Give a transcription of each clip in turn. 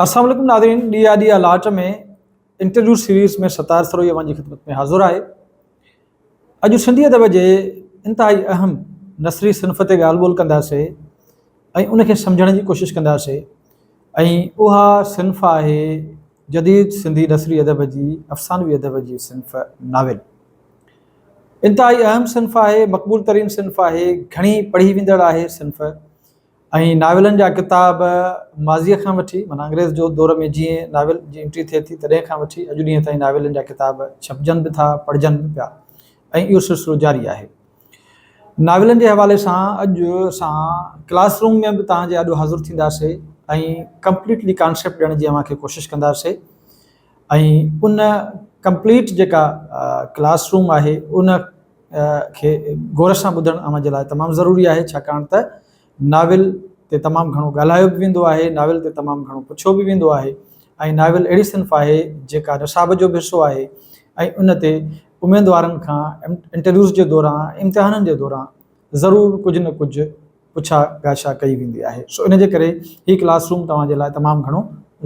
اسلام عليڪم ناظرين ڏيئا ڏيئا لاٽ ۾ انٽرويو سيريز ۾ ستار سروهي اوهان جي خدمت ۾ حاضر آهي اڄ سنڌي ادب جي انتهائي اهم نثري صنف تي ڳالهه ٻولهه ڪنداسي ۽ ان کي سمجھڻ جي ڪوشش ڪنداسي ۽ اها صنف آهي جديد سنڌي نثري ادب جي افسانوي ادب جي صنف ناول انتهائي اهم صنف آهي، مقبول ترين صنف آهي، گهڻي پڙهي ويندڙ آهي صنف ۽ ناولن جا ڪتاب ماضيء کان وٺي معنيٰ انگريز جو دور ۾ جيئن ناول جي انٽري ٿئي ٿي تڏهن کان وٺي اڄ ڏينهن تائين ناولن جا ڪتاب ڇپجن به ٿا پڙهجن به پيا ۽ اهو سلسلو جاري آهي. ناولن جي حوالي سان اڄ اسان ڪلاس روم ۾ به توهان جي آڏو حاضر ٿينداسي ۽ ڪمپليٽلي ڪانسيپٽ ڏيڻ جي اوهان کي ڪوشش ڪنداسي ۽ ان ڪمپليٽ جيڪا ڪلاس روم آهي ان کي غور سان ٻڌڻ اوهان جي لاء تمام ضروري آهي ڇاڪاڻ ته ناول تي تمام گهڻو ڳالهايو به ويندو آهي، ناول تي تمام گهڻو پڇيو به ويندو آهي ۽ ناول اهڙي صنف آهي جيڪا نصاب جو به حصو آهي ۽ ان تي اميدوارن کان انٽرويوز جي دوران امتحانن جي دوران ضرور ڪجهه نه ڪجهه پڇا ڳاشا ڪئي ويندي آهي سو ان جي ڪري هي ڪلاس روم توهان جي لاء تمام گهڻو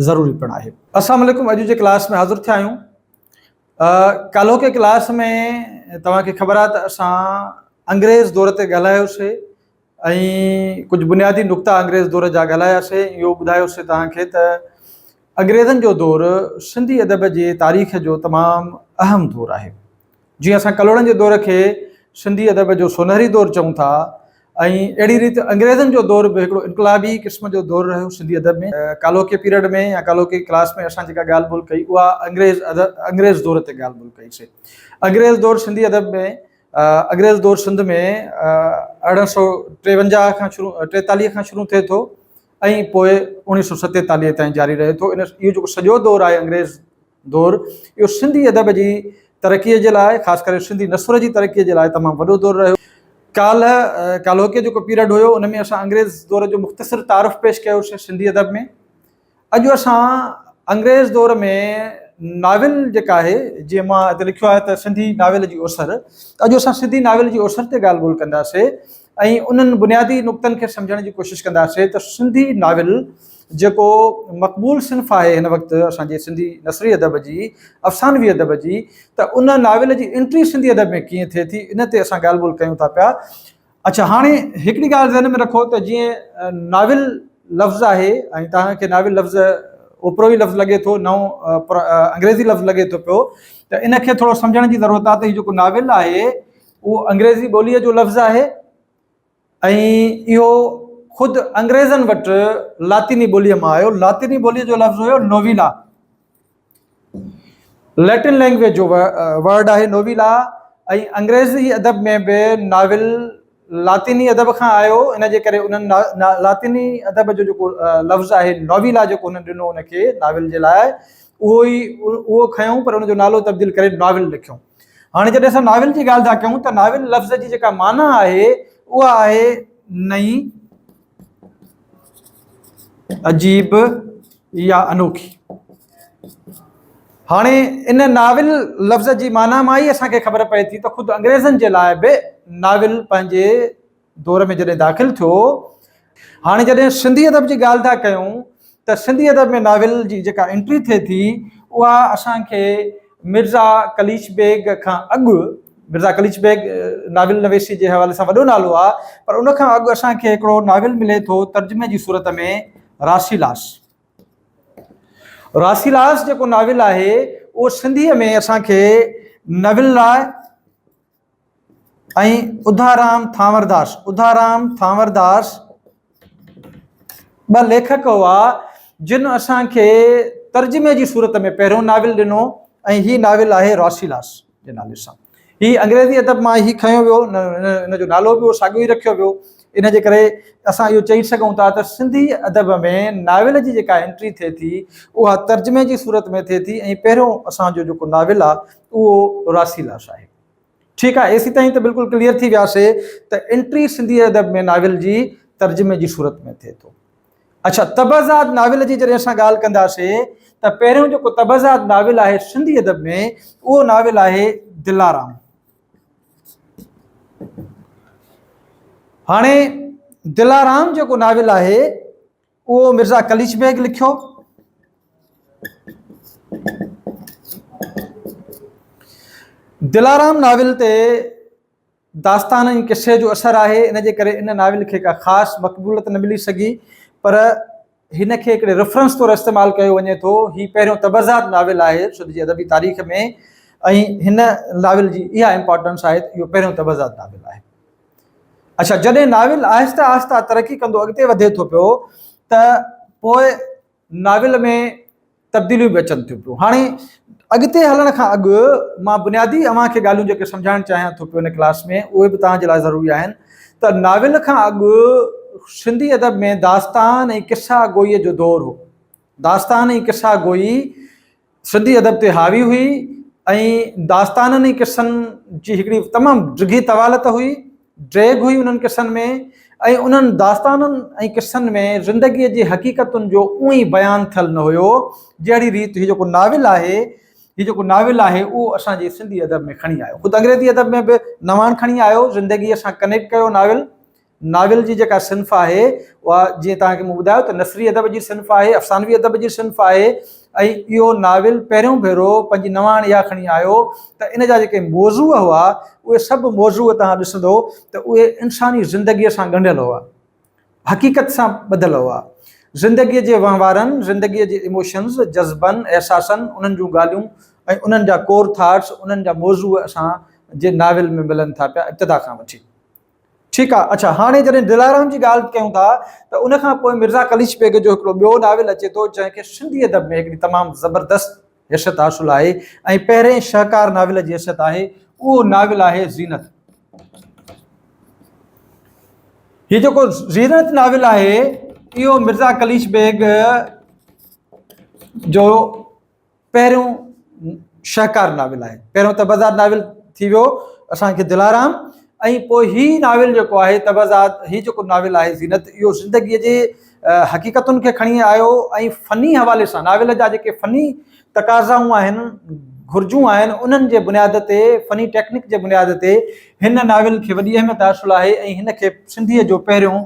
ضروري پڻ آهي. السلام عليڪم اڄ جي ڪلاس ۾ حاضر ٿيا آهيون ڪالهوڪي ڪلاس ۾ توهان کي خبر آهي ته اسان انگريز دور تي ڳالهايوسي ۽ ڪجهه بنيادي نقطا انگريز دور جا ڳالهايا سي ۽ اهو ٻڌايو سي توهان کي ته انگريزن جو دور سنڌي ادب جي تاريخ جو تمام اهم دور آهي جيئن اسان ڪلهوڙن جي دور کي سنڌي ادب جو سونهري دور چئون ٿا ۽ اهڙي ريت انگريزن جو دور به هڪڙو انقلابي قسم جو دور رهيو سنڌي ادب ۾ ڪالوڪي پيريڊ ۾ يا ڪالوڪي ڪلاس ۾ اسان جيڪا ڳالهه ٻولهه ڪئي اها انگريز ادب انگريز دور تي ڳالهه ٻولهه ڪئي سي انگريز دور سنڌي ادب ۾ اگريز دور سنڌ ۾ ارڙهن سؤ ٽيونجاهه کان شروع ٽيتاليهه کان شروع ٿئي ٿو ۽ پوء اوڻيهه سؤ ستيتاليهه تائين جاري رهي ٿو ان اهو جيڪو سڄو دور آهي انگريز دور اهو سنڌي ادب جي ترقيء جي لاء خاص ڪري سنڌي نثر جي ترقيء جي لاء تمام وڏو دور رهيو ڪالهه ڪالهوڪي جيڪو پيرڊ هيو ان ۾ اسان انگريز دور جو مختصر تعارف پيش ڪيوسي سنڌي ادب ۾ اڄ اسان انگريز دور ۾ ناول جيڪا آهي جيئن مان هتي لکيو آهي ته سنڌي ناول جي اوسر اڄ اسان سنڌي ناول جي اوسر تي ڳالهه ٻولهه ڪنداسين ۽ انهن بنيادي نقطن کي سمجهڻ جي ڪوشش ڪنداسين ته سنڌي ناول جيڪو مقبول صنف آهي هن وقت اسان جي سنڌي نثري ادب جي افسانوي ادب جي ته ان ناول جي انٽري سنڌي ادب ۾ ڪيئن ٿئي ٿي ان تي اسان ڳالهه ٻولهه ڪيون ٿا پيا اڇا هاڻي هڪڙي ڳالهه ذهن ۾ رکو ته جيئن ناول لفظ آهي ۽ توهان کي ناول لفظ اوپرو ئي لفظ لڳي ٿو نئون انگريزي لفظ لڳي ٿو پيو ته ان کي ٿورو سمجهڻ جي ضرورت آهي ته هي جيڪو ناول آهي اهو انگريزي ٻوليء جو لفظ آهي ۽ اهو خود انگريزن وٽ لاطيني ٻوليء مان آيو لاطيني ٻوليء جو لفظ هيو نويلا ليٽن لينگويج جو ورڊ آهي نويلا ۽ انگريزي ادب ۾ به ناول لاطيني ادب کان آيو ان جي ڪري انهن لاطيني ادب جو جيڪو لفظ آهي نويلا جيڪو هن ڏنو ان کي ناول جي لاء اهو ئي اهو کنيو پر ان جو نالو تبديل ڪري ناول لکيو هاڻي جڏهن اسان ناول جي ڳالهه ٿا ڪيون ته ناول لفظ جي جيڪا معنيٰ آهي اها آهي نئي عجيب اها انوکي هاڻي ان ناول لفظ جي معنيٰ مان ئي اسان کي خبر پئي ٿي ته خود انگريزن جي لاء به ناول پنهنجي دور ۾ جڏهن داخل ٿيو هاڻي جڏهن سنڌي ادب جي ڳالهه ٿا ڪيون ته سنڌي ادب ۾ ناول جي جيڪا انٽري ٿئي ٿي اها اسان کي مرزا قليچ بيگ کان اڳ، مرزا قليچ بيگ ناول نويسي جي حوالي سان وڏو نالو آ، پر ان کان اڳ اسان کي هڪڙو ناول ملي ٿو ترجمي جي صورت ۾ راسيلاس. راسيلاس جيڪو ناول آهي اهو سنڌيء ۾ اسان کي ناول لاء. ۽ اڌارام ٿانورداس، اڌارام ٿانورداس ٻه ليکڪ هئا جن اسان کي ترجمي جي صورت ۾ پهريون ناول ڏنو ۽ هي ناول آهي راسيلاس جي نالي سان هي انگريزي ادب مان هي کنيو ويو ان جو نالو به ساڳيو ئي رکيو ويو ان جي ڪري اسان اهو چئي سگهون ٿا ته سنڌي ادب ۾ ناول جي جيڪا انٽري ٿئي ٿي اها ترجمي جي صورت ۾ ٿئي ٿي ۽ پهريون اسانجو جيڪو ناول آهي اهو راسي لاش آهي. ٺيڪ آهي ايسي تائين ته بلڪل ڪليئر ٿي وياسي ته انٽري سنڌي ادب ۾ ناول جي ترجمي جي صورت ۾ ٿئي ٿو. اڇا طبعزاد ناول جي جڏهن اسان ڳالهه ڪنداسي ته پهريون جيڪو طبعزاد ناول آهي سنڌي ادب ۾ اهو ناول آهي دلارام. هاڻي دلارام جيڪو ناول آهي. اهو مرزا قليچ بيگ لکيو. دلارام ناول تي داستان ۽ قصي جو اثر آهي، ان جي ڪري ان ناول کي ڪا خاص مقبوليت نه ملي سگهي، پر هن کي هڪڙي ريفرنس طور استعمال ڪيو وڃي ٿو. هي پهريون تبرزاد ناول آهي سنڌ جي ادبي تاريخ ۾ ۽ هن ناول جي اها امپارٽنس آهي ته اهو پهريون تبرزاد ناول آهي. اڇا جڏهن ناول آهستي آهستي ترقي ڪندو اڳتي وڌي ٿو پيو ته پوء ناول ۾ تبديليون به اچن ٿيون پيون هاڻي اڳتي هلڻ کان اڳ مان بنيادي اوهان کي ڳالهيون جيڪي سمجهائڻ چاهيان ٿو پيو هن ڪلاس ۾ اهي به توهان جي لاء ضروري آهن ته ناول کان اڳ سنڌي ادب ۾ داستان ۽ قصا گوئي جو دور هو داستان ۽ قصا گوئي سنڌي ادب تي حاوي هئي ۽ داستانن ۽ قصن جي هڪڙي تمام ڊگهي طوالت هئي، ڊيگهه هئي انهن قصن ۾ ۽ انهن داستانن ۽ قصن ۾ زندگيء جي حقيقتن جو اونء ئي بيان ٿيل نه هيو، جهڙي ريت هي جيڪو ناول آهي، هي جيڪو ناول آهي اهو اسان جي سنڌي ادب ۾ کڻي آيو. خود انگريزي ادب ۾ به نواڻ کڻي آيو، زندگيء سان ڪنيڪٽ ڪيو ناول. ناول جي جيڪا صنف آهي اها جيئن توهان کي مون ٻڌايو ته نثري ادب جي صنف آهي، افسانوي ادب جي صنف آهي ۽ اهو ناول پهريون ڀيرو پنهنجي نواڻ اها کڻي آيو ته ان جا جيڪي موضوع هئا اهي سڀ موضوع توهان ڏسندو ته اهي انساني زندگيء سان ڳنڍيل هئا، حقيقت سان ٻڌل هئا. زندگيء جي وهنوارن، زندگيء جي ايموشنز، جذبن، احساسن، انهن جون ڳالهيون ۽ انهن جا ڪور ٿاٽس، انهن جا موضوع اسان جي ناول ۾ ملن ٿا پيا ابتدا کان وٺي. ٺيڪ آ اڇا هاڻي جڏهن دلارام جي ڳالهه ڪيون ٿا ته ان کان پوء مرزا قليچ بيگ جو هڪڙو ٻيو ناول اچي ٿو جنهن کي سنڌي ادب ۾ هڪڙي تمام زبردست حيثيت حاصل آهي ۽ پهرين شهڪار ناول جي حيثيت آهي اهو ناول آهي زينت هي جيڪو زينت ناول آهي اهو مرزا قليچ بيگ جو پهريون شهڪار ناول آهي. پهريون تبرزاد ناول ٿي ويو اسان کي دلارام ۽ پوء هي ناول جيڪو آهي تبرزاد هي جيڪو ناول آهي زينت اهو زندگيء جي حقيقتن کي کڻي آيو ۽ فني حوالي سان ناول جا جيڪي فني تقاضائون آهن گهرجون آهن انهن جي بنياد تي فني ٽيڪنڪ جي بنياد تي هن ناول کي وڏي اهميت حاصل آهي ۽ هن کي سنڌيء جو پهريون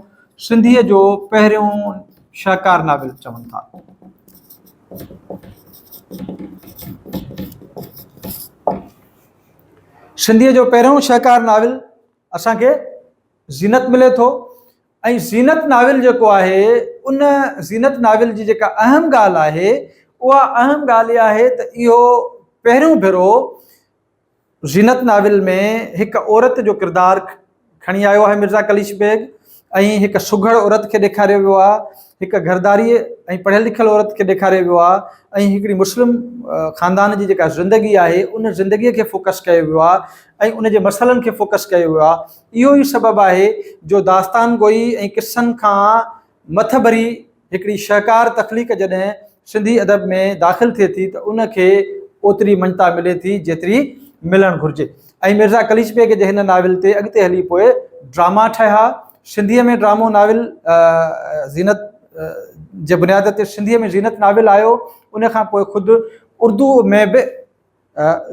سنڌيء جو پهريون شهڪار ناول چون ٿا. سنڌيء جو پهريون شهڪار ناول اسان کي زينت ملي ٿو ۽ زينت ناول جيڪو آهي ان زينت ناول جي جيڪا اهم ڳالهه آهي اها اهم ڳالهه اها آهي ته اهو پهريون ڀيرو زينت ناول ۾ هڪ عورت جو ڪردار کڻي آيو آهي مرزا قليچ بيگ ۽ هڪ سگهڙ عورت کي ڏيکاريو ويو آهي، هڪ گهرداريء ۽ پڙهيل لکيل عورت کي ڏيکاريو ويو آهي ۽ هڪڙي مسلم خاندان جي جيڪا زندگي آهي ان زندگيء کي فوڪس ڪيو ويو آهي ۽ ان جي مسئلن کي فوڪس ڪيو ويو آهي. اهو ئي سبب آهي جو داستان گوئي ۽ قصن کان مٿڀري هڪڙي شهڪار تخليق جڏهن سنڌي ادب ۾ داخل ٿئي ٿي ته ان کي اوتري مڃتا ملي ٿي جيتري ملڻ گهرجي ۽ ميرزا قليچ بيگ جي هن ناول تي اڳتي هلي پوء ڊراما ٺهيا سنڌيء ۾ ڊرامو ناول زينت جي بنياد تي سنڌيء ۾ زينت ناول آيو ان کان پوء خود اردو ۾ به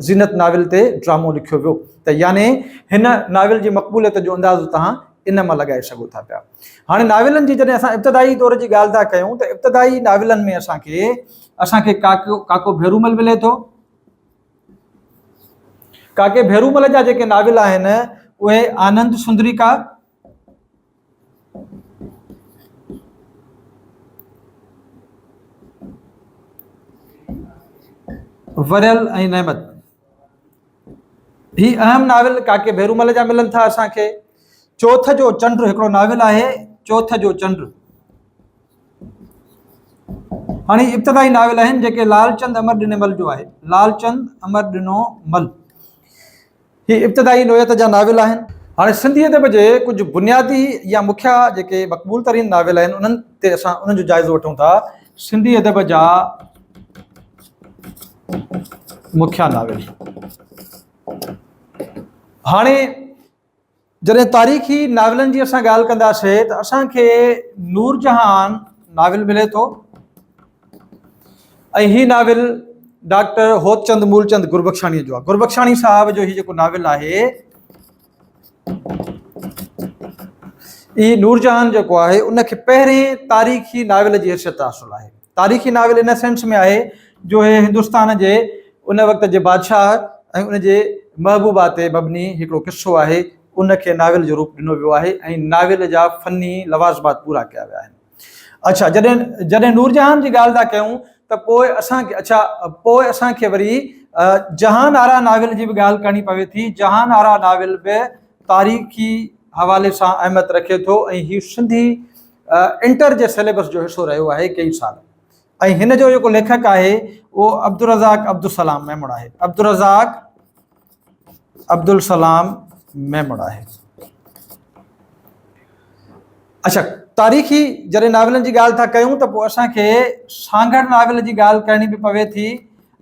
زينت ناول تي ڊرامو لکيو ويو ته يعني هن ناول جي مقبوليت جو اندازو تهان ان مان لڳائي سگهو ٿا پيا. هاڻي ناولن جي جڏهن اسان ابتدائي دور جي ڳالهه ٿا ڪيون ته ابتدائي ناولن ۾ اسان کي اسان کي ڪاڪو ڪاڪو ڀيرومل ملي ٿو. ڪاڪي ڀيرومل جا جيڪي ناول آهن اهي آنند سندريڪا، وريل ۽ نعمت هي اهم ناول ڪاڪي ڀيرومل جا ملن ٿا اسان کي چوٿ جو چنڊ هڪڙو ناول آهي چوٿ جو چنڊ هاڻي ابتدائي ناول آهن جيڪي لالچند امر ڏنو مل جو آهي لالچند امر ڏنو مل هي ابتدائي نوعيت جا ناول آهن. هاڻي سنڌي ادب جي ڪجهه بنيادي يا مکيه جيڪي مقبول ترين ناول آهن انهن تي اسان انهن جو جائزو وٺون ٿا. سنڌي ادب جا مکيه ناول. هاڻي جڏهن تاريخي ناولن جي اسان ڳالهه ڪنداسين ته اسان کي نور جهان ناول ملي ٿو ۽ هي ناول ڊاڪٽر هوت چند مولچند گربخشاڻي جو گربخشاڻي صاحب جو هي جيڪو ناول آهي هي نورجهان جيڪو آهي ان کي پهرين تاريخي ناول جي حيثيت حاصل آهي تاريخي ناول ان سينس ۾ آهي جو هي هندستان جي ان وقت جي بادشاهه ۽ ان جي محبوبا تي مبني هڪڙو قصو آهي، ان کي ناول جو روپ ڏنو ويو آهي ۽ ناول جا فني لوازمات پورا ڪيا ويا آهن. اڇا جڏهن جڏهن نورجهان جي ڳالهه ٿا ڪيون ته پوء اسان کي اڇا پوء اسان کي وري جهان آرا ناول جي به ڳالهه ڪرڻي پوي ٿي، جهان آرا ناول به تاريخي حوالي سان اهميت رکي ٿو ۽ هي سنڌي انٽر جي سليبس جو حصو رهيو آهي ڪيئي سال ۽ هن جو جيڪو ليکڪ آهي اهو عبدالرزاق عبدالسلام ميمڻ آهي عبدالرزاق عبدالسلام ميمڻ آهي اچھا تاريخي جڏهن ناولن جي ڳالهه ٿا ڪيون ته پوء اسان کي سانگهڙ ناول جي ڳالهه ڪرڻي به پوي ٿي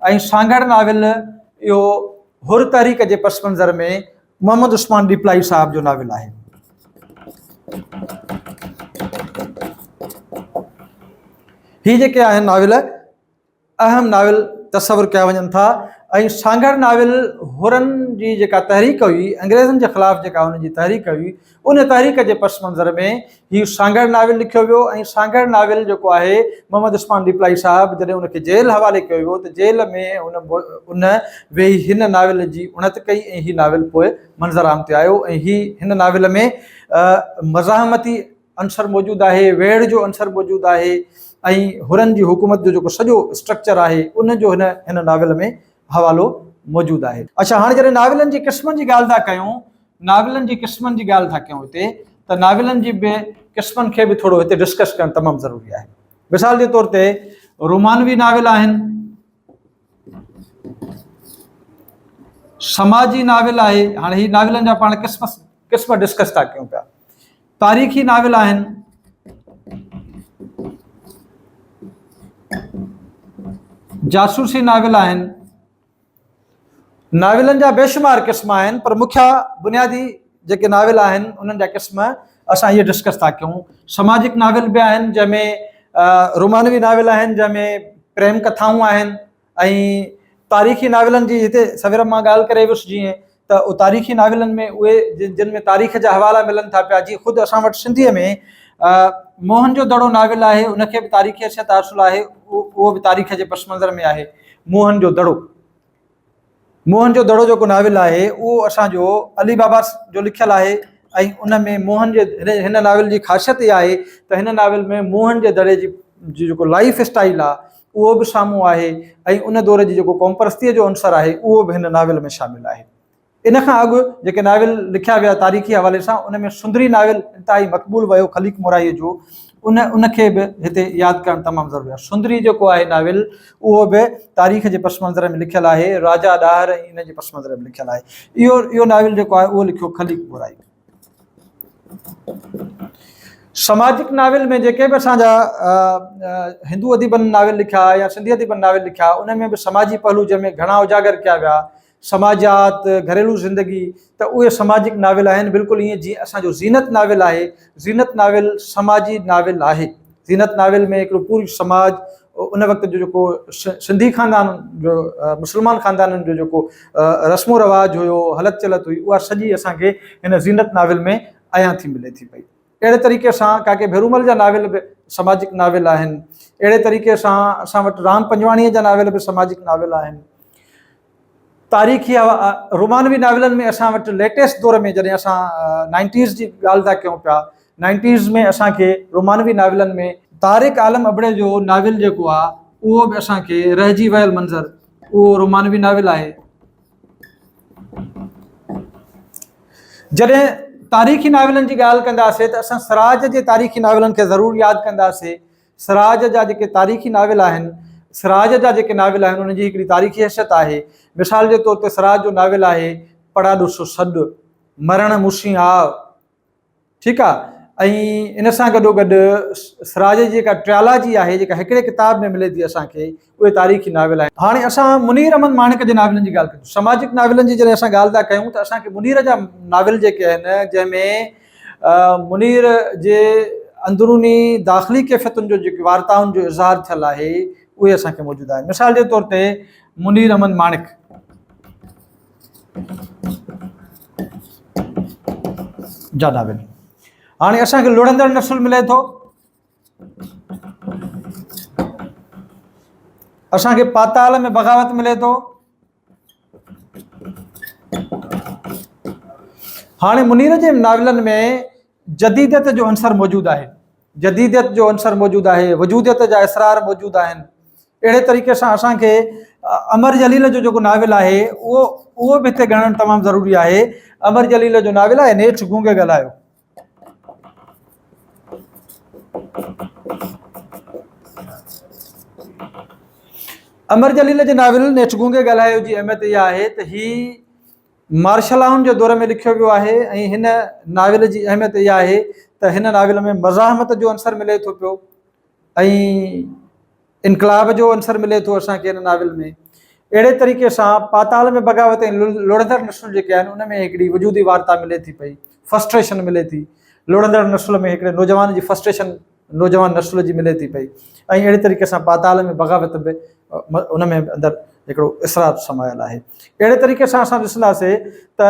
۽ سانگهڙ ناول اهو حر تحريڪ جي پس منظر ۾ محمد عثمان ڏيپلائي صاحب جو ناول آهي. هي جيڪي آهن ناول اهم ناول تصور ڪيا وڃن ٿا ۽ سانگهڙ ناول حرن جي جيڪا تحريڪ هئي انگريزن جي خلاف جيڪا هن جي تحريڪ هئي ان تحريڪ جي پس منظر ۾ هي سانگهڙ ناول لکيو ويو ۽ سانگهڙ ناول جيڪو آهي محمد عثمان ڏيپلائي صاحب جڏهن ان کي جيل حوالي ڪيو ويو ته جيل ۾ ان ويهي هن ناول جي اڻت ڪئي ۽ هي ناول پوء منظر عام تي آيو ۽ هي هن ناول ۾ مزاحمتي عنصر موجود آهي، ويڙهه جو عنصر موجود آهي ۽ حرن جي حڪومت جو جيڪو سڄو اسٽرڪچر آهي ان جو هن هن ناول ۾ حوالو موجود آهي. اڇا هاڻي جڏهن ناولن جي قسمن جي ڳالهه ٿا ڪيون ناولن جي قسمن جي ڳالهه ٿا ڪيون هتي ته ناولن جي به قسمن کي به ٿورو هتي ڊسڪس ڪرڻ تمام ضروري آهي مثال جي طور تي رومانوي ناول آهن سماجي ناول آهي هاڻي هي ناولن جا پاڻ قسم قسم ڊسڪس ٿا ڪيون پيا تاريخي ناول آهن جاسوسي ناول آهن ناولن جا بيشمار قسم آهن پر مکيه بنيادي جيڪي ناول آهن انهن جا قسم اسان اهي ڊسڪس ٿا ڪيون سماجڪ ناول به آهن جنهن ۾ رومانوي ناول آهن جنهن ۾ پريم ڪٿائون آهن ۽ تاريخي ناولن جي هتي سوير مان ڳالهه ڪري ويس جيئن ته تاريخي ناولن ۾ اهي جن ۾ تاريخ جا حوالا ملن ٿا پيا جيئن خود اسان وٽ سنڌيء ۾ موهن جو دڙو ناول آهي ان کي به تاريخي حيثيت حاصل آهي اهو به تاريخ جي پس منظر ۾ آهي موهن جو دڙو موهن جو دڙو جيڪو ناول آهي اهو اسانجو علي بابا جو لکيل آهي ۽ ان ۾ موهن جي هن ناول جي خاصيت اها آهي ته هن ناول ۾ موهن جي دڙي جي جيڪو لائف اسٽائل آهي اهو به سامهون آهي ۽ ان دور جي جيڪو قومپرستيء جو عنصر آهي، اهو به هن ناول ۾ شامل آهي. ان کان اڳ جيڪي ناول لکيا ويا تاريخي حوالي سان، ان ۾ سندري ناول انتهائي مقبول ويو خليق مورائيء جو، ان ان کي به هتي ياد ڪرڻ تمام ضروري آهي. سندري جيڪو آهي ناول، اهو به تاريخ جي پس منظر ۾ لکيل آهي، راجا ڏاهر ۽ ان جي پس منظر ۾ لکيل آهي. اهو اهو ناول جيڪو آهي، اهو لکيو خليق مورائيء. سماجڪ ناول ۾ جيڪي به اسان جا هندو اديبن ناول لکيا يا سنڌي اديبن ناول لکيا انهن ۾ به سماجي پهلو جنهن ۾ گهڻا اجاگر ڪيا ويا سماجيات گهريلو زندگي ته اهي سماجڪ ناول آهن بلڪل ائين جيئن اسانجو زينت ناول آهي زينت ناول سماجي ناول آهي زينت ناول ۾ هڪڙو پورو سماج ان وقت جو جيڪو سنڌي خاندان جو مسلمان خاندانن جو جيڪو رسم و رواج هيو هلت چلت هئي اها سڄي اسانکي هن زينت ناول ۾ عيان ٿي ملي ٿي پئي اهڙي طريقي سان ڪاڪي ڀيرومل جا ناول به سماجڪ ناول آهن اهڙي طريقي سان اسان وٽ رام پنجواڻيء جا ناول به سماجڪ ناول آهن تاريخي رومانوي ناولن ۾ اسان وٽ ليٽيسٽ دور ۾ جڏهن اسان نائنٽيز جي ڳالهه ٿا ڪيون پيا نائنٽيز ۾ اسان کي رومانوي ناولن ۾ طارق عالم ابڙي جو ناول جيڪو آهي اهو به اسان کي رهجي ويل منظر اهو رومانوي ناول آهي جڏهن تاريخي ناولن جي ڳالهه ڪنداسين ته اسان سراج جي تاريخي ناولن کي ضرور ياد ڪنداسين سراج جا جيڪي تاريخي ناول آهن، سراج جا جيڪي ناول آهن انهن جي هڪڙي تاريخي حيثيت آهي. مثال جي طور تي سراج جو ناول آهي پڙا ڏسو سڏ، مرڻ مشين آء، ٺيڪ آ، ۽ ان سان گڏوگڏ سراج جي جيڪا ٽريالاجي آهي جيڪا هڪڙي ڪتاب ۾ ملي ٿي اسان کي، اهي تاريخي ناول آهن. هاڻي اسان منير احمد ماڻڪ جي ناولن جي ڳالهه ڪنداسين. سماجڪ ناولن جي جڏهن اسان ڳالهه ٿا ڪيون ته اسان کي منير جا ناول جيڪي آهن جنهن ۾ منير جي اندروني داخلي ڪيفيتن جو جيڪي وارتائن جو اظهار ٿيل آهي اهي اسان کي موجود آهن. مثال جي طور تي منير احمد ماڻڪ. جا ناول. هاڻي اسان کي لڙهندڙ نسل ملي ٿو. اسان کي پاتال ۾ بغاوت ملي ٿو هاڻي منير جي ناولن ۾ جديديت جو عنصر موجود آهي جديديت جو عنصر موجود آهي وجوديت جا اسرار موجود آهن اهڙي طريقي سان اسانکي امر جليل جو جيڪو ناول آهي اهو اهو به هتي ڳڻڻ تمام ضروري آهي امر جليل جو ناول آهي نيٺ گونگي ڳالهايو امر جليل جي ناول نيٺ گونگي ڳالهايو جي اهميت اها آهي ته هي مارشلائن جي دور ۾ لکيو ويو آهي ۽ هن ناول جي اهميت اها آهي ته هن ناول ۾ مزاحمت جو عنصر ملي ٿو پيو ۽ انقلاب جو عنصر ملي ٿو اسان کي هن ناول ۾ اهڙي طريقي سان پاتال ۾ بغاوت ۽ لڙندڙ نسل جيڪي آهن ان ۾ هڪڙي وجودي وارتا ملي ٿي پئي فسٽريشن ملي ٿي لڙندڙ نسل ۾ هڪڙي نوجوان جي فسٽريشن نوجوان نسل جي ملي ٿي پئي ۽ اهڙي طريقي سان پاتال ۾ بغاوت به ان ۾ اندر هڪڙو اسرار سمايل آهي اهڙي طريقي سان اسان ڏسنداسي ته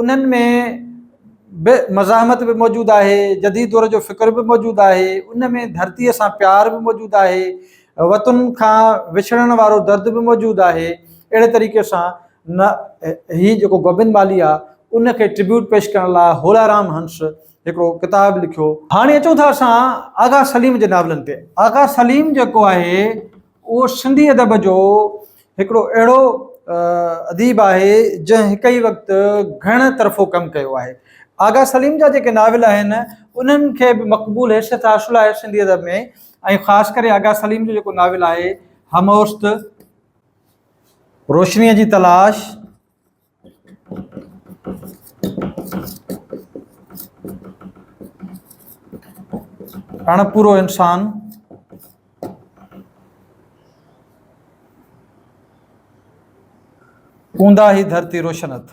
انهن ۾ به مزاحمت به موجود آهي، جديد دور جو فڪر به موجود آهي، ان ۾ ڌرتيء سان پيار به موجود آهي، وطن کان وڇڙڻ وارو درد به موجود آهي. اهڙي طريقي سان نه هي جيڪو گوبند مالهي آ ان کي ٽربيوٽ پيش ڪرڻ لاء هولارام هنس هڪڙو ڪتاب لکيو. هاڻي اچون ٿا اسان آغا سليم جي ناولن تي. آغا سليم جيڪو آهي اهو سنڌي ادب جو هڪڙو اهڙو اديب آهي جنهن هڪ ئي وقت گهڻ طرفو ڪم ڪيو آهي. آغا سليم جا جيڪي ناول آهن انهن کي به مقبول حيثيت حاصل آهي سنڌي ادب ۾ ۽ خاص ڪري آغا سليم جو جيڪو ناول آهي هموست، روشنيء جي تلاش، اڻپورو انسان اونداهي هي ڌرتي روشن اٿ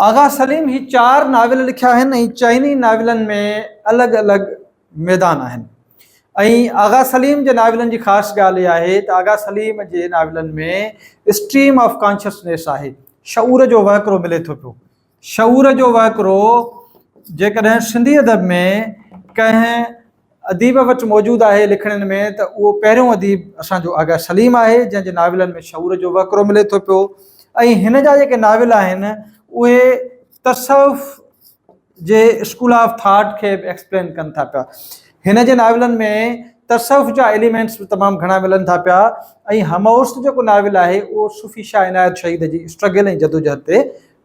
آغا سليم هي چار ناول لکيا آهن ۽ چئني ناولن ۾ الڳ الڳ ميدان آهن ۽ آغا سليم جي ناولن جي خاص ڳالهه اها آهي ته آغا سليم جي ناولن ۾ اسٽريم آف ڪانشسنيس آهي، شعور جو وهڪرو ملي ٿو پيو. شعور جو وهڪرو جيڪڏهن سنڌي ادب ۾ ڪنهن اديب وٽ موجود آهي لکڻين ۾ ته اهو پهريون اديب اسان جو آغا سليم آهي جنهن جي ناولن ۾ شعور جو وهڪرو ملي ٿو پيو ۽ هن جا جيڪي ناول آهن اهي تصوف جي اسڪول آف ٿاٽ کي به ايڪسپلين ڪن ٿا پيا. هن جي ناولن ۾ تصوف جا ايليمينٽس به تمام گهڻا ملن ٿا پيا ۽ همعصر جيڪو ناول آهي اهو صوفي شاهه عنايت شهيد جي اسٽرگل ۽ جدوجهد تي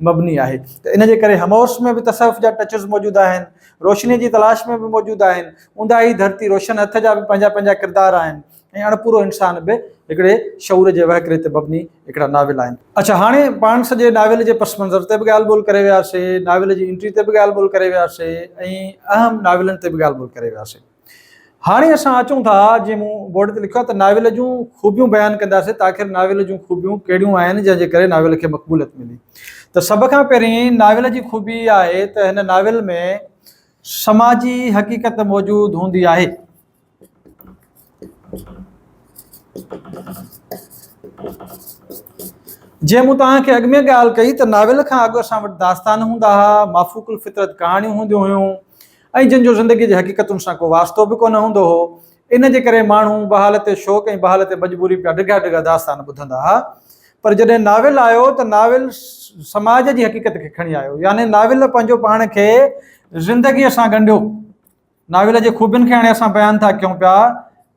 مبني آهي ته ان جي ڪري همعصر ۾ به تصوف جا ٽچز موجود آهن، روشنيء جي تلاش ۾ به موجود آهن، اونداهي ڌرتي روشن هٿ جا به پنهنجا پنهنجا ڪردار آهن. ۽ اڻپورو انسان به هڪڙي شعور جي وهڪري تي مبني هڪڙا ناول آهن. اڇا هاڻي پاڻ سڄي ناول جي پس منظر تي به ڳالهه ٻولهه ڪري وياسي، ناول جي انٽري تي به ڳالهه ٻولهه ڪري وياسي ۽ اهم ناولن تي به ڳالهه ٻولهه ڪري وياسي. هاڻي اسان اچون ٿا جيئن مون بورڊ تي لکيو آهي ته ناول جون خوبيون بيان ڪنداسي ته آخر ناول جون خوبيون ڪهڙيون آهن جنهن جي ڪري ناول کي مقبوليت ملي ته سڀ کان پهرين ناول جي خوبي آهي ته هن ناول ۾ سماجي حقيقت موجود هوندي آهي. جيئن مون توهان کي اڳ ۾ ڳالهه ڪئي ته ناول کان اڳ اسان وٽ داستان هوندا ها مافوق الفطرت ڪهاڻيون هونديون هيون ۽ جن جو زندگي جي حقيقتن سان ڪو واسطو به ڪونه هوندو هو ان جي ڪري ماڻهو بحالت شوق ۽ بحالت مجبوري پيا ڊگها ڊگها داستان ٻڌندا ها پر جڏهن ناول آيو ته ناول سماج جي حقيقت کي کڻي آيو يعني ناول پنهنجو پاڻ کي زندگيء سان ڳنڍيو ناول جي خوبين کي هاڻي اسان بيان ٿا ڪيون پيا.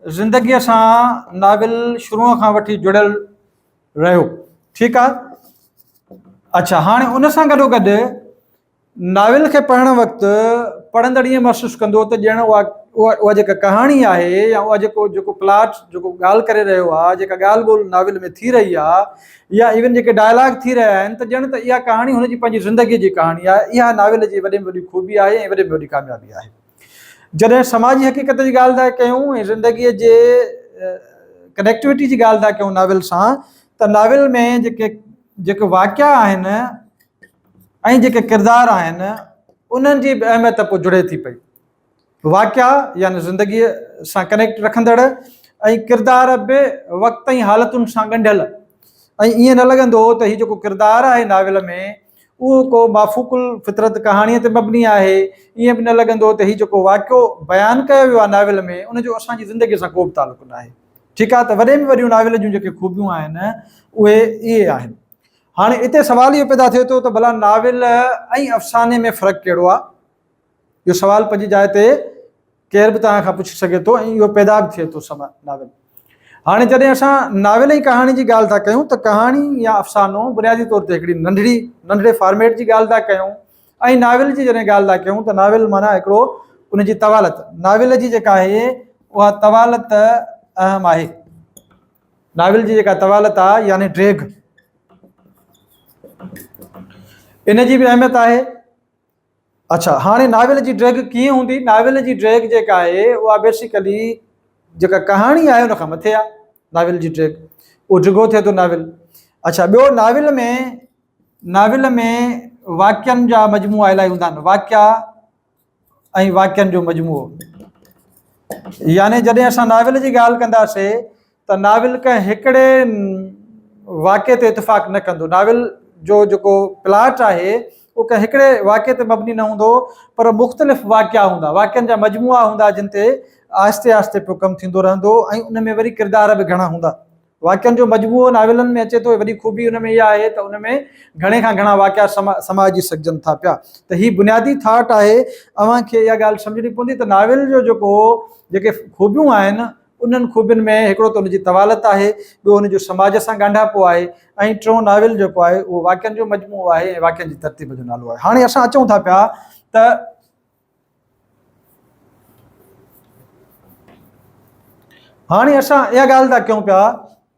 زندگيء سان ناول شروع کان وٺي جڙيل رهيو. ٺيڪ آهي. اڇا هاڻي ان سان گڏو گڏ ناول کي پڙهڻ وقت پڙهندڙ ائين محسوس ڪندو ته ڄڻ اها اها جيڪا ڪهاڻي آهي يا اها جيڪو جيڪو پلاٽ جيڪو ڳالهه ڪري رهيو آهي جيڪا ڳالهه ٻولهه ناول ۾ ٿي رهي آهي يا ايون جيڪي ڊائلاگ ٿي رهيا آهن ته ڄڻ ته اها ڪهاڻي هن جي پنهنجي زندگي جي ڪهاڻي آهي. اها ناول جي وڏي ۾ وڏي خوبي آهي ۽ وڏي ۾ وڏي ڪاميابي آهي. جڏهن سماجي حقيقت جي ڳالهه ٿا ڪيون ۽ زندگي جي ڪنيڪٽوٽي جي ڳالهه ٿا ڪيون ناول سان ته ناول ۾ جيڪي جيڪي واقعا آهن ۽ جيڪي ڪردار آهن انهن جي به اهميت پوء جڙي ٿي پئي. واقعا يعني زندگيء سان ڪنيڪٽ رکندڙ ۽ ڪردار به وقت ۽ حالتن سان ڳنڍيل ۽ ائين نه لڳندو هو ته هي جيڪو ڪردار آهي ناول ۾ اهو ڪو مافوق الفطرت ڪهاڻيء تي مبني آهي ائين به نه لڳندو ته هي جيڪو واقعو بيان ڪيو ويو آهي ناول ۾ ان جو اسان جي زندگيء سان ڪوبه تعلق ناهي ٺيڪ آهي ته وڏي ۾ وڏيون ناول جون جيڪي خوبيون آهن اهي اهي آهن هاڻي اتي سوال اهو پيدا ٿئي ٿو ته ڀلا ناول ۽ افساني ۾ فرق ڪهڙو آهي اهو سوال پنهنجي جاء تي ڪير به توهان کان پڇي سگهي ٿو ۽ اهو پيدا به ٿئي ٿو سوال ناول هاڻي جڏهن اسان ناول ۽ ڪهاڻي جي ڳالهه ٿا ڪيون ته ڪهاڻي يا افسانو بنيادي طور تي هڪڙي ننڍڙي ننڍڙي فارميٽ جي ڳالهه ٿا ڪيون ۽ ناول جي جڏهن ڳالهه ٿا ڪيون ته ناول معنيٰ هڪڙو ان جي طوالت ناول جي جيڪا آهي اها طوالت اهم آهي ناول جي جيڪا طوالت آهي يعني ڊيگهه ان جي به اهميت آهي اڇا هاڻي ناول جي ڊريگ ڪيئن هوندي؟ ناول جي ڊريگ جيڪا آهي اها بيسيڪلي جيڪا ڪهاڻي آهي ان کان مٿي آهي ناول جي ڊريگ اهو ڊگهو ٿئي ٿو ناول اڇا ٻيو ناول ۾ ناول ۾ واقعن جا مجموعا الاهي هوندا آهن واقعا ۽ واقعن جو مجموعو يعني جڏهن اسان ناول جي ڳالهه ڪنداسي ته ناول ڪنهن هڪڙي واقعي تي اتفاق نه ڪندو. ناول جو جيڪو پلاٽ آهي اهو ڪنهن هڪڙي واقعي تي مبني نه هوندو پر مختلف واقعا هوندا، واقعن جا مجموعا هوندا جن تي آهستي آهستي پيو ڪم ٿيندو رهندو ۽ ان ۾ وري ڪردار به گهڻا هوندا. واقعن جو مجموعو ناولن ۾ اچي ٿو وڏي خوبي ان ۾ اها آهي ته ان ۾ گهڻي کان گهڻا واقعا سمائجي سگهجن ٿا پيا ته هي بنيادي ٿاٽ آهي اوهان کي اها ڳالهه سمجهڻي پوندي ته ناول جو جيڪو جيڪي خوبيون آهن انهن خوبين ۾ هڪڙو ته ان جي طوالت آهي، ٻيو ان جو سماج سان ڳانڍاپو آهي ۽ ٽيون ناول جيڪو آهي اهو واقعن جو مجموعو آهي ۽ واقعن جي ترتيب جو نالو آهي. هاڻي اسان اچون ٿا پيا ته. هاڻي اسان اها ڳالهه ٿا ڪيون پيا.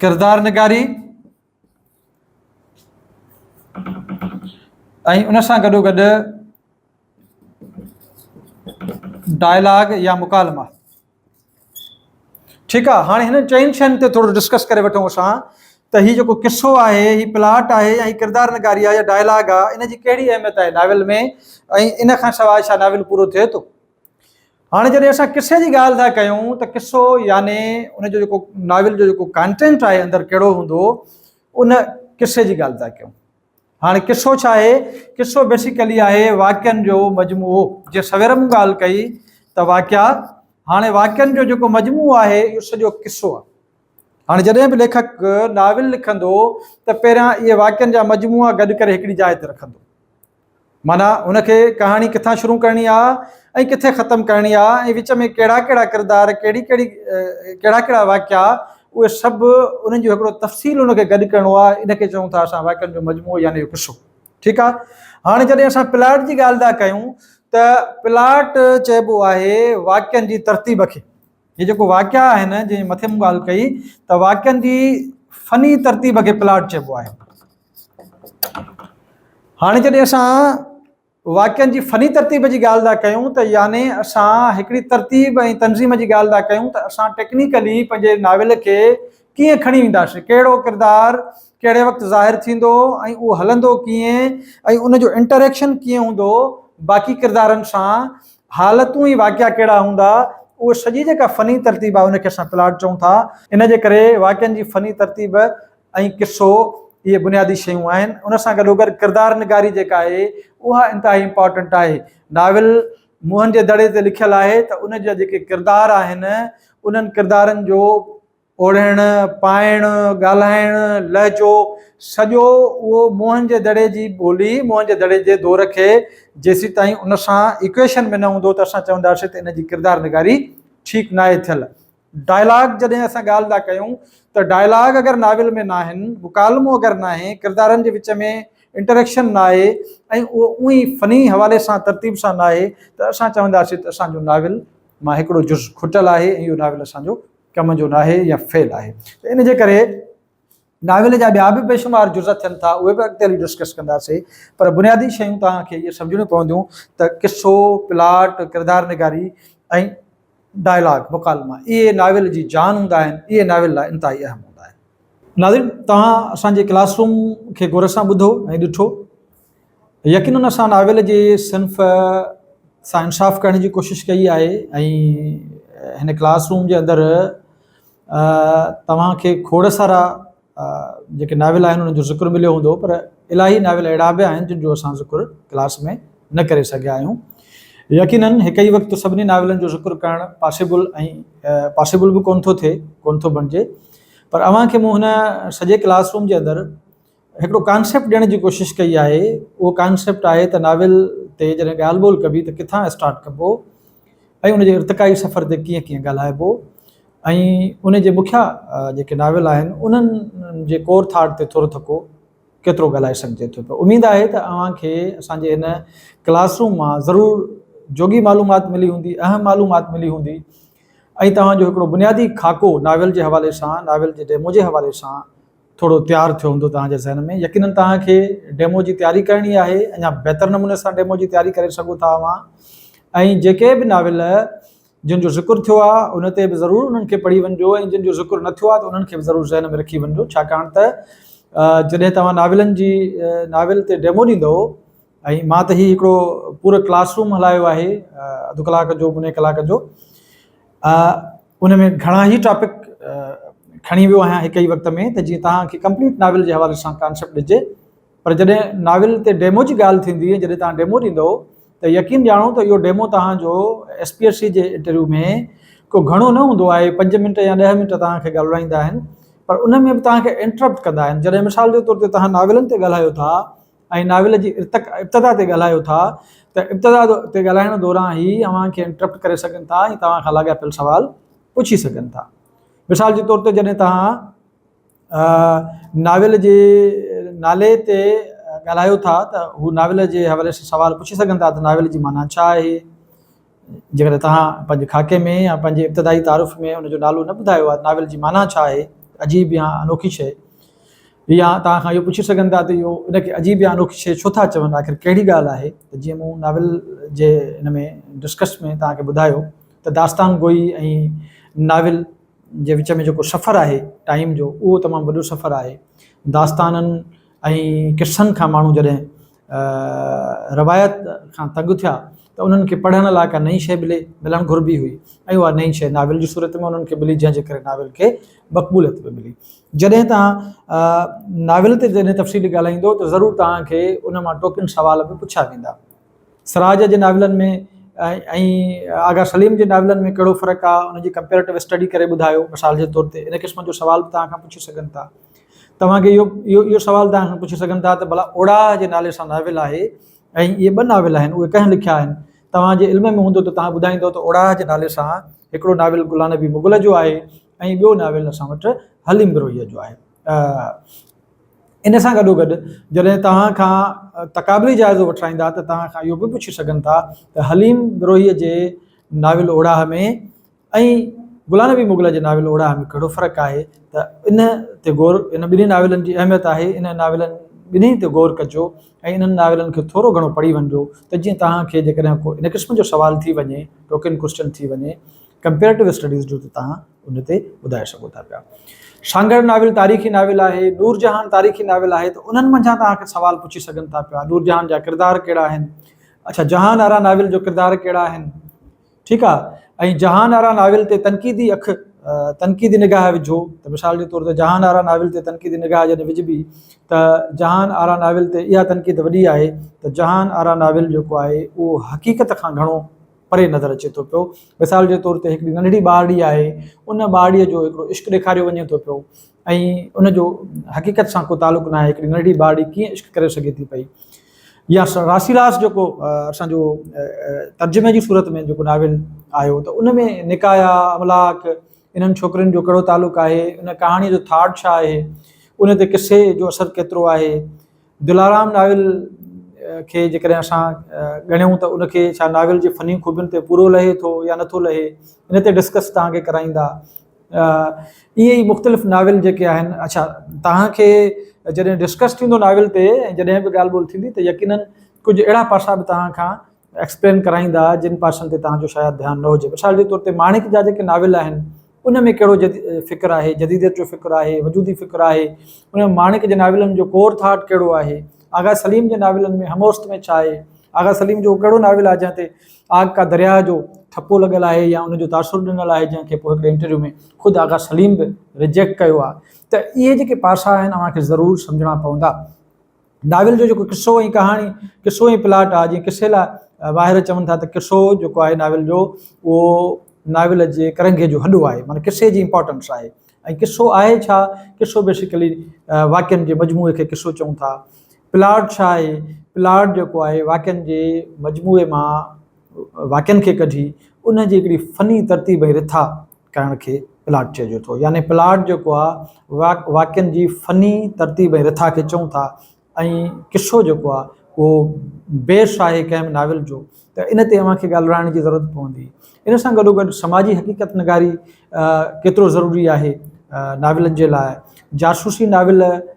ڪردار نگاري ۽ ان سان گڏو گڏ ڊائلاگ يا مڪالما ٺيڪ آ هاڻي هنن چئن شين تي ٿورو ڊسڪس ڪري وٺون اسان ته هي جيڪو قصو آهي هي پلاٽ آهي يا هي ڪردار نگاري آهي يا ڊائلاگ آهي ان جي ڪهڙي اهميت آهي ناول ۾ ۽ ان کان سواء ڇا ناول پورو ٿئي ٿو هاڻي جڏهن اسان قصي جي ڳالهه ٿا ڪيون ته قصو يعني ان جو جيڪو ناول جو جيڪو ڪانٽينٽ آهي اندر ڪهڙو هوندو ان قصي جي ڳالهه ٿا ڪيون هاڻي قصو ڇا آهي قصو بيسيڪلي آهي واقعن جو مجموعو جي سوير مون ڳالهه ڪئي ته واقعا هاڻي واقعن جو جيڪو مجموعو آهي اهو سڄو قصو آهي هاڻي جڏهن به ليکڪ ناول لکندو ته پهريان اهي واقعن جا مجموعا گڏ ڪري هڪڙي جاء تي رکندو معنيٰ هن کي ڪهاڻي ڪٿان شروع ڪرڻي آ ۽ ڪٿي ختم ڪرڻي آ ۽ وچ ۾ ڪهڙا ڪهڙا ڪردار ڪهڙي ڪهڙي ڪهڙا ڪهڙا واقعا اهي سڀ انهن جو هڪڙو تفصيل ان کي گڏ ڪرڻو آ ان کي چئون ٿا اسان واقعن جو مجموعو يعني اهو قصو ٺيڪ آ هاڻي جڏهن اسان پلاٽ جي ڳالهه ٿا ڪيون ته پلاٽ چئبو آهي واقعن جي ترتيب کي هي جيڪو واقعا آهن جنهن مٿي مون ڳالهه ڪئي ته واقعن جي فني ترتيب کي پلاٽ چئبو آهي هاڻي جڏهن اسان واقعن جي فني ترتيب جي ڳالهه ٿا ڪيون ته يعني اسان هڪڙي ترتيب ۽ تنظيم جي ڳالهه ٿا ڪيون ته اسان ٽيڪنيڪلي پنهنجي ناول کي ڪيئن کڻي وينداسين ڪهڙو ڪردار ڪهڙي وقت ظاهر ٿيندو ۽ اهو هلندو ڪيئن ۽ ان جو انٽريڪشن ڪيئن هوندو باقي ڪردارن سان حالتون ۽ واقعا ڪهڙا هوندا اهو سڄي جيڪا فني ترتيب آهي ان کي اسان پلاٽ چئون ٿا ان جي ڪري واقعن جي فني ترتيب ۽ قصو اهي بنيادي شيون آهن. ان سان گڏوگڏ ڪردار نگاري جيڪا آهي اها انتهائي امپارٽنٽ آهي. ناول موهن جي دڙي تي لکيل آهي ته ان جا جيڪي ڪردار آهن انهن ڪردارن جو اوڙهڻ، پائڻ، ڳالهائڻ، لهجو سڄو اهو موهن جي دڙي جي ٻولي، موهن جي دڙي جي دور کي جيسيتائين ان سان ايڪويشن ۾ نه هوندو ته اسان چونداسين ته ان جي ڪردار نگاري ٺيڪ ناهي ٿيل. ڊائلاگ جڏهن اسان ڳالهه ٿا ڪيون ته ڊائلاگ اگر ناول ۾ ناهن، مڪالمو اگر ناهي، ڪردارن جي وچ ۾ انٽريڪشن ناهي ۽ اهو اونهي ئي فني حوالي سان ترتيب سان ناهي ته اسان چونداسين ته اسان جو ناول مان هڪڙو جز کٽل آهي ۽ اهو ناول اسان جو ڪم جو ناهي يا فيل آهي ته ان جي ڪري ناول جا ٻيا به بيشمار جزء ٿين ٿا، اهي به اڳتي هلي ڊسڪس ڪنداسين، پر بنيادي شيون توهان کي اهي سمجهڻيون پونديون ته قصو، پلاٽ، ڪردار نگاري ۽ ڊائلاگ، مڪالما، اهي ناول جي جان هوندا آهن، اهي ناول لاء انتهائي اهم هوندا آهن. ناظرين توهان اسان جي ڪلاس روم کي غور سان ٻڌو ۽ ڏٺو، يقينن اسان ناول جي صنف سان انصاف ڪرڻ جي ڪوشش ڪئي آهي ۽ هن ڪلاس روم جي اندر توهان کي کوڙ سارا جيڪي ناول آهن انهن جو ذڪر مليو هوندو پر الاهي ناول اهڙا به آهن جن جو اسان ذڪر ڪلاس ۾ نه ڪري سگهيا آهيون يقينن هڪ ئي وقت سڀني ناولن جو ذڪر ڪرڻ پاسيبل ۽ پاسيبل به ڪونه ٿو ٿئي ڪونه ٿو بڻجي پر اوهان کي مون هن سڄي ڪلاس روم جي اندر هڪڙو ڪانسيپٽ ڏيڻ جي ڪوشش ڪئي آهي، اهو ڪانسيپٽ آهي ته ناول تي جڏهن ڳالهه ٻولهه ڪبي ته ڪٿان اسٽارٽ ڪبو ۽ ان جي ارتقائي سفر تي ڪيئن ڪيئن ڳالهائبو ۽ ان جي مکيا جيڪي ناول آهن انهن جي ڪور ٿاٽ تي ٿورو ٿڪو ڪيترو ڳالهائي سگهجي ٿو پيو اميد آهي ته اوهان کي اسان جي هن ڪلاس روم مان ضرور جوڳي معلومات ملي هوندي اهم معلومات ملي هوندي ۽ توهان جو هڪڙو بنيادي خاڪو ناول جي حوالي سان ناول جي ڊيمو جي حوالي سان ٿورو تيار ٿيو هوندو توهان جي ذهن ۾ يقينن توهان کي ڊيمو جي تياري ڪرڻي آهي اڃا بهتر نموني سان ڊيمو جي تياري ڪري سگهو ٿا اوهان ۽ جيڪي به ناول جن جو ذڪر ٿيو آهي ان تي به ضرور انهن کي پڙهي وڃجو ۽ جن جو ذڪر نه ٿيو آهي ته انهن کي به ضرور ذهن ۾ رکي وڃجو ڇاڪاڻ ته جڏهن توهان ناولن جي ناول تي ڊيمو ڏيندو ۽ مان ته هي هڪڙو پورو ڪلاس روم هلايو آهي اڌ ڪلاڪ جو مني ڪلاڪ جو ان ۾ گهڻا ئي ٽاپڪ کڻي ويو آهيان هڪ ئي وقت ۾ ته جيئن توهان کي ڪمپليٽ ناول جي حوالي سان ڪانسيپٽ ڏجي پر جڏهن ناول تي ڊيمو جي ڳالهه ٿيندي جڏهن توهان ڊيمو ڏيندو ته يقين ڄاڻو ته اهو ڊيمو توهان جو ايس پي ايس سی جي انٽرويو ۾ ڪو گهڻو نه هوندو آهي پنج منٽ يا ڏهه منٽ توهان کي ڳالهرائيندا آهن پر ان ۾ به توهان کي انٽرپٽ ڪندا آهن جڏهن مثال جي طور تي توهان ناولن تي ڳالهايو ٿا ۽ ناول جي ارتق ابتدا تي ڳالهايو ٿا ته ابتدا تي ڳالهائڻ دوران هي اوهان کي انٽرپٽ ڪري سگهن ٿا ۽ توهان کان لاڳاپيل سوال پڇي سگهن ٿا مثال جي طور تي جڏهن توهان ناول جي نالي تي ڳالهايو ٿا ته هو ناول جي حوالي سان سوال پڇي سگهن ٿا ته ناول جي معنيٰ ڇا آهي جيڪڏهن توهان پنهنجي خاڪي ۾ يا پنهنجي ابتدائي تعارف ۾ ان جو نالو نه ٻڌايو آهي ته ناول جي معنيٰ ڇا آهي، عجيب يا انوکي شيء؟ يا توهان کان اهو پڇي سگهن ٿا ته اهو ان کي عجيب يا انوکي شيء ڇو ٿا چون؟ آخر ڪهڙي ڳالهه آهي ته جيئن مون ناول جي ان ۾ ڊسڪس ۾ توهان کي ٻڌايو ته داستان گوئي ۽ ناول جي وچ ۾ جيڪو سفر آهي ٽائيم جو اهو تمام وڏو سفر آهي. داستانن ۽ قصن کان ماڻهو جڏهن روايت کان تنگ ٿيا ته انهن کي پڙهڻ لاء ڪا نئين شيء ملي، ملڻ گهربي هئي ۽ اها نئين شيء ناول جي صورت ۾ انهن کي ملي جنهن جي ڪري ناول کي مقبوليت به ملي. جڏهن توهان ناول تي جڏهن تفصيلي ڳالهائيندو ته ضرور توهان کي ان مان ٽوڪين سوال به پڇيا ويندا. سراج جي ناولن ۾ ۽ آغا سليم جي ناولن ۾ ڪهڙو فرق آهي، ان جي ڪمپيريٽو اسٽڊي ڪري ٻڌايو. مثال جي طور تي ان قسم جو سوال به توهان کان پڇي سگهن ٿا. توهان کي اهو اهو سوال تهان کان پڇي سگهن ٿا ته ڀلا اوڙاهه جي نالي سان ناول آهي ۽ اهي ٻه ناول آهن اهي ڪنهن لکيا آهن؟ توهان جي علم ۾ هوندو ته توهان ٻڌائيندو ته اوڙاهه جي نالي سان هڪڙو ناول گلان نبي مغل جو آهي ۽ ٻيو ناول اسان وٽ حليم بروهيء جو آهي. ان سان گڏو گڏ جڏهن توهان کان تقابلي جائزو وٺرائيندا ته توهان کان اهو به پڇي سگهن ٿا ته حليم بروهيء جي ناول اوڙاهه ۾ ۽ غلام نبي مغل جي ناول اوڙاهه ۾ ڪهڙو فرق آهي ته ان تي غور ان ٻنهي ناولن جي اهميت آهي انهن ناولن ٻنهي تي غور ڪجو ۽ انهن ناولن کي ٿورو گهڻو پڙهي وڃجو ته جيئن توهان کي جيڪڏهن ڪو ان قسم جو سوال ٿي وڃي ٽوڪن ڪوسچن ٿي وڃي ڪمپيريٽو اسٽڊيز جو ته توهان ان تي ٻڌائي سگهو ٿا پيا سانگهڙ ناول تاريخي ناول آهي نور جهان تاريخي ناول آهي ته انهن منجهان توهان کي سوال پڇي سگهن ٿا پيا نور جهان جا ڪردار ڪهڙا آهن اڇا جهان آرا ناول جو ڪردار ڪهڙا آهن ٺيڪ آ ۽ جهان آرا ناول تي تنقيدي اک تنقيدي نگاهه وجهو ته مثال جي طور تي جهان آرا ناول تي تنقيدي نگاهه جڏهن وجهبي ته جهان آرا ناول تي اها تنقيد وڏي آهي ته جهان آرا ناول جيڪو آهي اهو حقيقت کان گهڻو پري نظر اچي ٿو پيو مثال جي طور تي هڪڙي ننڍڙي ٻارڙي آهي ان ٻارڙيء جو هڪڙو عشق ڏيکاريو وڃي ٿو پيو ۽ ان جو حقيقت سان ڪو تعلق ناهي هڪڙي ننڍڙي ٻارڙي ڪيئن عشق ڪري سگهي ٿي پئي يا راسي راس جيڪو اسان جو ترجمي جي صورت ۾ جيڪو ناول آيو ته ان ۾ نڪايا املاڪ انهن ڇوڪرين جو ڪهڙو تعلق آهي ان ڪهاڻي جو ٿاٽ ڇا آهي ان تي قصي جو اثر ڪيترو آهي دلارام ناول کي جيڪڏهن اسان ڳڻيون ته ان کي ڇا ناول جي فني خوبين تي پورو لهي ٿو يا نٿو لهي ان تي ڊسڪس تهان کي ڪرائيندا ائين ئي مختلف ناول جيڪي آهن اڇا توهان کي جڏهن ڊسڪس ٿيندو ناول تي جڏهن به ڳالهه ٻولهه ٿيندي ته يقينن ڪجهه اهڙا پاسا به توهان کان ايڪسپلين ڪرائيندا جن پاسن تي توهان جو شايد ڌيان نه هجي مثال جي طور تي ماڻڪ جا جيڪي ناول آهن ان ۾ ڪهڙو جد فڪر آهي جديديت جو فڪر آهي وجودي فڪر آهي ان ۾ ماڻڪ جي ناولن جو ڪور ٿاٽ ڪهڙو آهي آغا سليم جي ناولن ۾ هموست ۾ ڇا آهي آغا سليم جو ڪهڙو ناول آهي جنهن تي آگ ڪا درياء جو ٺپو لڳل آهي يا ان جو تاثر ڏنل آهي جنهن کي پوء هڪڙي انٽرويو ۾ خود آغا سليم به ريجيڪٽ ڪيو آهي ته اهي جيڪي پاسا آهن اوهان کي ضرور سمجهڻا پوندا. ناول جو جيڪو قصو ۽ ڪهاڻي قصو ۽ پلاٽ آهي جيئن قصي لاء ماهر چون ٿا ته قصو جيڪو آهي ناول جو اهو ناول جي ڪرنگهي جو هڏو آهي معنيٰ قصي جي امپارٽنس آهي ۽ قصو آهي ڇا قصو بيسيڪلي واقعن جي مجموعي کي قصو چئون ٿا. پلاٽ ڇا آهي؟ پلاٽ جيڪو آهي واقعن جي مجموعي مان واقعن کي ڪڍي ان جي هڪڙي فني ترتيب ۽ رٿا ڪرڻ کي پلاٽ چئجي ٿو يعني پلاٽ جيڪو آهي واقع واقعن جي فني ترتيب ۽ رٿا کي چئون ٿا ۽ قصو جيڪو آهي اهو بيس آهي ڪنهن به ناول جو ته ان تي اوهان کي ڳالهرائڻ جي ضرورت پوندي ان سان گڏو گڏ سماجي حقيقت نگاري ڪيترو ضروري آهي ناولن جي لاء جاسوسي ناول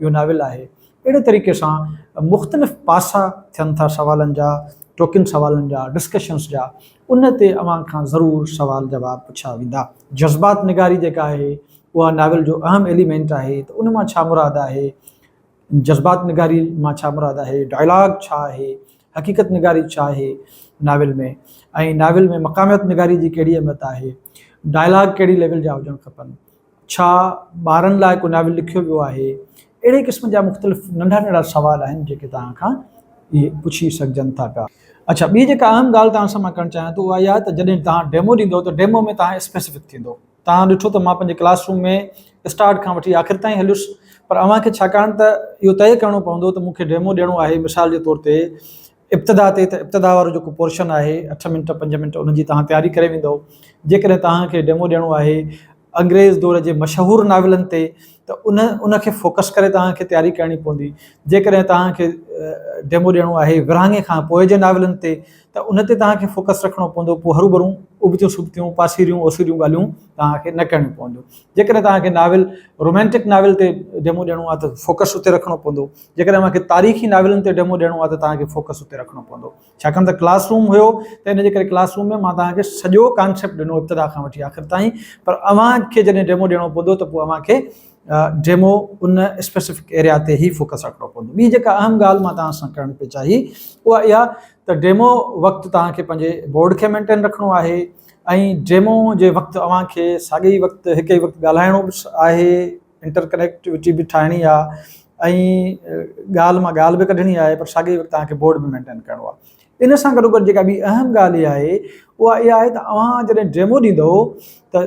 اهو ناول آهي. اهڙي طريقي سان مختلف پاسا ٿين ٿا سوالن جا، ٽوڪين سوالن جا، ڊسڪشنس جا، ان تي اوهان کان ضرور سوال جواب پڇيا ويندا. جذبات نگاري جيڪا آهي اها ناول جو اهم ايليمينٽ آهي ته ان مان ڇا مراد آهي، جذبات نگاري مان ڇا مراد آهي، ڊائلاگ ڇا آهي، حقيقت نگاري ڇا آهي ناول ۾ ۽ ناول ۾ مقاميت نگاري جي ڪهڙي اهميت آهي، ڊائلاگ ڪهڙي ليول جا هجڻ کپن، ڇا ٻارن لاء ڪو ناول لکيو ويو آهي؟ اهڙي قسم جا مختلف ننڍا ننڍا سوال آهن جيڪي توهان کان اهي پڇي سگهجن ٿا پيا. اڇا ٻي جيڪا اهم ڳالهه توهان سان مان ڪرڻ چاهيان ٿو اها اها ته جڏهن توهان ڊيمو ڏيندو ته ڊيمو ۾ توهان اسپيسفڪ ٿيندو. توهان ڏٺو ته مان پنهنجي ڪلاس روم ۾ اسٽارٽ کان وٺي آخر تائين هليس پر اوهان کي ڇاڪاڻ ته اهو طئي ڪرڻو پوندو ته مون کي ڊيمو ڏيڻو آهي مثال جي طور تي ابتدا تي ته ابتدا وارو جيڪو پورشن آهي اٺ منٽ پنج منٽ ان جي توهان تياري ڪري ويندو جيڪڏهن توهان کي ڊيمو ڏيڻو آهي انگريز دور جي مشهور ناولن تي ته ان ان کي فوڪس ڪري توهان کي تياري ڪرڻي پوندي جيڪڏهن توهان کي ڊيمو ڏيڻو آهي ورهاڱي کان پوء جي ناولن تي ته ان تي توهان کي فوڪس رکڻو پوندو پوء هرو ڀرو ابتيون سبتيون پاسيريون اوسيريون ڳالهيون توهان کي نه ڪرڻيون پونديون جيڪڏهن توهان کي ناول رومانٽڪ ناول تي ڊيمو ڏيڻو آهي ته فوڪس اتي رکڻو پوندو جيڪڏهن اوهان کي تاريخي ناولن تي ڊيمو ڏيڻو آهي ته توهان کي فوڪس اتي رکڻو پوندو ڇاڪاڻ ته ڪلاس روم هيو ته ان جي ڪري ڪلاس روم ۾ مان توهان کي سڄو ڪانسيپٽ ڏنو ابتدا کان وٺي آخر تائين پر اوهان کي جڏهن ڊيمو ڏيڻو پوندو ته پوء اوهان کي ڊيمو ان اسپيسيفڪ ايريا تي هي فوڪس رکڻو پوندو ٻي جيڪا اهم ڳالهه مان توهان سان ڪرڻ پئي چاهي اها اها ته ڊيمو وقت توهان کي پنهنجي بورڊ کي مينٽين رکڻو آهي ۽ ڊيمو جي وقت اوهان کي ساڳي وقت هڪ ئي وقت ڳالهائڻو به آهي انٽر ڪنيڪٽوٽي به ٺاهڻي آهي ۽ ڳالهه مان ڳالهه به ڪڍڻي آهي پر ساڳئي وقت توهان کي بورڊ به مينٽين ڪرڻو آهي ان سان گڏو گڏ جيڪا ٻي اهم ڳالهه اها آهي اها اها آهي ته اوهان جڏهن ڊيمو ڏيندو ته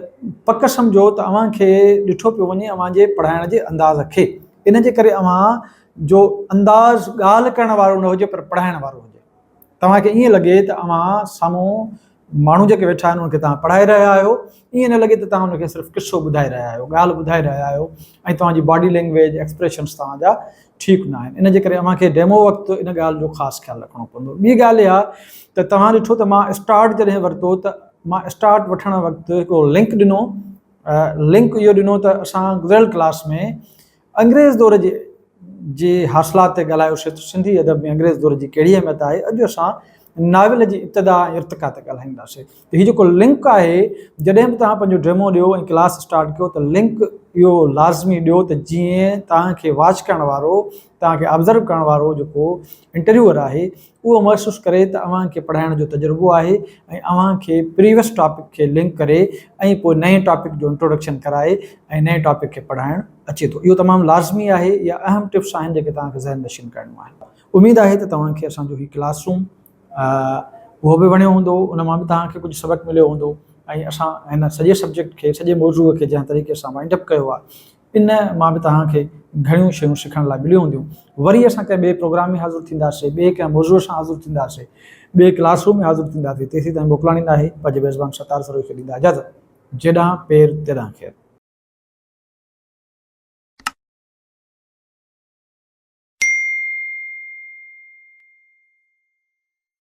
پڪ سمجهو ته اوهان کي ڏٺو پيو وڃي اوهان جي پڙهائڻ جي انداز کي ان جي ڪري اوهان جو انداز ڳالهه ڪرڻ وارو نه هجي پر پڙهائڻ وارو هجي توهان کي ائين لڳي ته اوهان سامهون ماڻهو جيڪي ويٺا آهن انهن کي توهان پڙهائي رهيا آهيو ائين نه لڳي ته توهان انهن کي صرف قصو ٻڌائي رهيا آهيو ڳالهه ٻڌائي رهيا آهيو ۽ توهان جي باڊي لينگويج ايڪسپريشنس توهان جا ٺيڪ نه آهن ان جي ڪري اوهان کي ڊيمو وقت ان ڳالهه جو خاص خيال رکڻو پوندو ٻي ڳالهه اها ته توهان ڏٺو ته مان اسٽارٽ جڏهن ورتو ته مان اسٽارٽ وٺڻ وقت هڪڙو لنڪ ڏنو لنڪ اهو ڏنو ته اسان گذريل ڪلاس ۾ انگريز دور جي جي حاصلات تي ڳالهايو سي ته سنڌي ادب ۾ انگريز دور جي ڪهڙي اهميت آهي اڄ اسان ناول جي ابتدا ۽ ارتقا تي ڳالهائيندا سي ته هي جيڪو لنڪ آهي جڏهن به توهان پنهنجو ڊيمو ڏيو ۽ ڪلاس اسٽارٽ ڪيو ته لنڪ اهو لازمي ڏيو ته جيئن توهان کي واچ ڪرڻ وارو توهان کي آبزرو ڪرڻ وارو جيڪو انٽرويوئر آهي اهو محسوس ڪري ته اوهان کي پڙهائڻ جو تجربو آهي ۽ اوهان کي پريويس ٽاپڪ کي لنڪ ڪري ۽ پوء نئين ٽاپڪ جو انٽروڊڪشن ڪرائي ۽ نئين ٽاپڪ کي پڙهائڻ اچي ٿو اهو تمام لازمي آهي اها اهم ٽپس آهن جيڪي توهان کي ذهن نشين ڪرڻيون آهن اميد آهي ته توهان کي اسان جو هي ڪلاس روم اهو به وڻيو هوندو ان مان به توهان کي ڪجهه سبق مليو هوندو ۽ اسان هن سڄي سبجيڪٽ کي سڄي موضوع کي جنهن طريقي سان وائنڊ اپ ڪيو آهي ان مان به توهان کي گهڻيون شيون سکڻ لاء مليون هونديون. وري اسان ڪنهن ٻئي پروگرام ۾ حاضر ٿينداسين، ٻئي ڪنهن موضوع سان حاضر ٿينداسين، ٻئي ڪلاس روم ۾ حاضر ٿينداسين، تيسيتائين موڪلاڻي ناهي، پنهنجي ميزبان ستار سروهي کي ڏيندا اجازت. جيڏانهن پير تيڏانهن خير.